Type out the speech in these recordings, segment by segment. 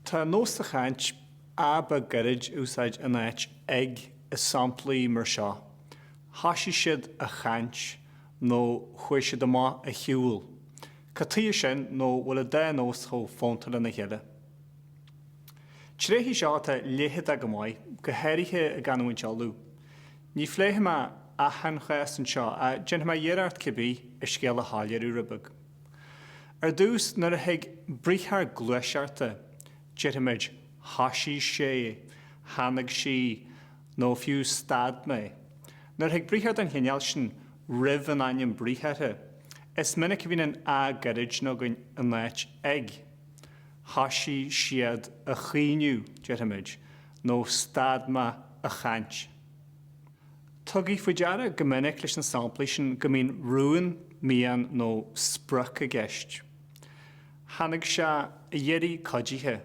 Tá nós sa chaint an a gairid a úsáid in áit ag i samplaí mar seo, thoisigh siad a chaint nó chuaigh siad amach a shiúl. Cad chuige sin nó bhfuil an dá nós chomh fónta lena chéile? Tréith í seo atá leitheadach go maith, go háirithe i gcanúint Uladh. Ní phléifidh mé achan chás anseo, ach déanfaidh mé iarracht cibé, an scéal a shoiléiriú rud beag. Ar dtús, nuair a thig briathar gluaiseachta, déarfaimid thoisigh sé, tháinig sí, nó fiú stad mé. Nuair a thig briathar den chineál sin roimh an ainm briathartha, is minic a bhíonn an a gairid againn in áit ag. Thoisigh siad a chaoineadh, déarfaimid, nó stad mé a chaint. Tugaigí faoi deara go minic leis na samplaí sin go mbíonn rún, mian nó sprioc i gceist. Tháinig sé a dh'iarraidh cuidithe,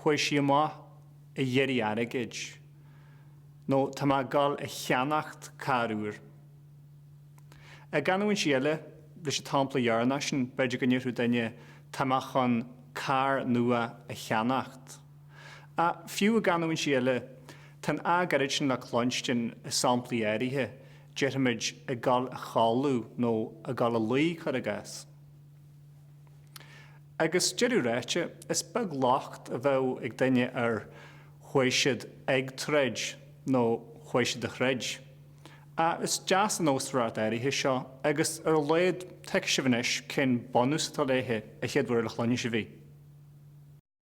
chuaigh sí amach a dh'iarraidh airgid, nó tá mé ag dul a cheannacht carr úr. I gcanúintí eile, leis an tsampla dheireanach sin, b'fhéidir go ndéarfadh duine, tá mé chun carr nua a cheannacht. Ach fiú i gcanúintí eile, tá an 'a' gairid sin le cluinstin i samplaí áirithe, déarfaimid, 'ag dul a chodladh' nó 'ag dul a luí', cuir i gcás. Agus deireadh ráite, is beag locht a bheadh ag duine ar 'chuaigh siad ag troid' nó 'chuaigh siad a throid'. Ach is deas an nósmhaireacht áirithe seo, agus ar a laghad, tuigfidh sibh anois cén bunús atá léithe, an chéad uair eile a chluinfeas sibh í.